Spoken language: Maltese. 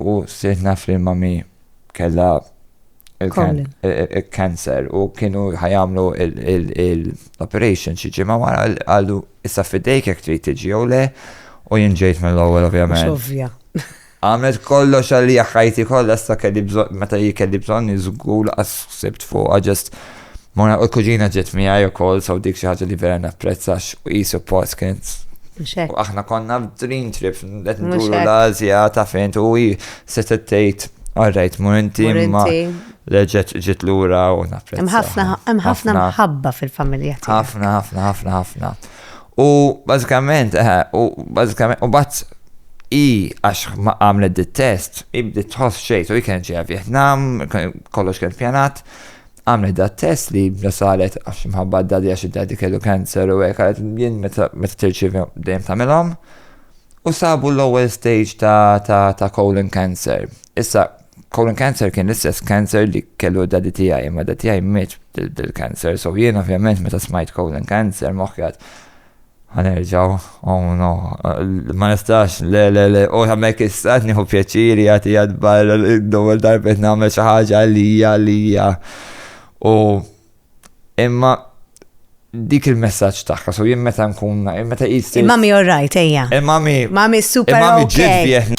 U sirt naf li mami kella il-cancer u kienu ħajamlu l-operation xi ġimgħa wara għallu issa fidejk jekk trid tiġi jew le u jien ġejt mill-ewwel ovvjament. Għamlet kollox għalli ħajti kollha issa kelli bżonn meta hi kelli bżonn żgur għas sibt fuqha ġest Mona u l-kuġina ġiet miegħi wkoll so dik xi ħaġa li vera napprezza għax hi suppost kienet u aħna konna dream trip qed nduru l-Asja ta' fejn u hi se tgħid Alright, mur inti imma leġet ġit lura u napprezza. Hemm ħafna mħabba fil-familja tiegħek. Ħafna, ħafna, ħafna, ħafna. U bażikament, eh, u bażikament, u bat i għax ma għamlet dit-test, i bdiet tħoss xejn, u kien ġeja Vietnam, kollox kien pjanat, għamlet da test li da saret għax mħabba d-dadi għax id-dadi kellu cancer u hekk għalet jien meta tirċivi dejjem tagħmilhom u sabu l-ewwel stage ta' ta' ta' colon cancer. Issa colon cancer kien l-istess cancer li kellu dadi tiegħi, ma dadi tiegħi miet bil-cancer, so jien ovvjament meta smajt colon cancer moħħjat Ħa nerġgħu, oh no, ma nistax, le, le, le, u hemmhekk issa qed nieħu pjaċiri jagħti jadbar l-ewwel darba qed nagħmel xi ħaġa għalija għalija. U imma dik il-messaġġ tagħha, so jien meta nkun, meta qis. Il-mami all right, ejja. Il-mami. Mami super. Il-mami ġid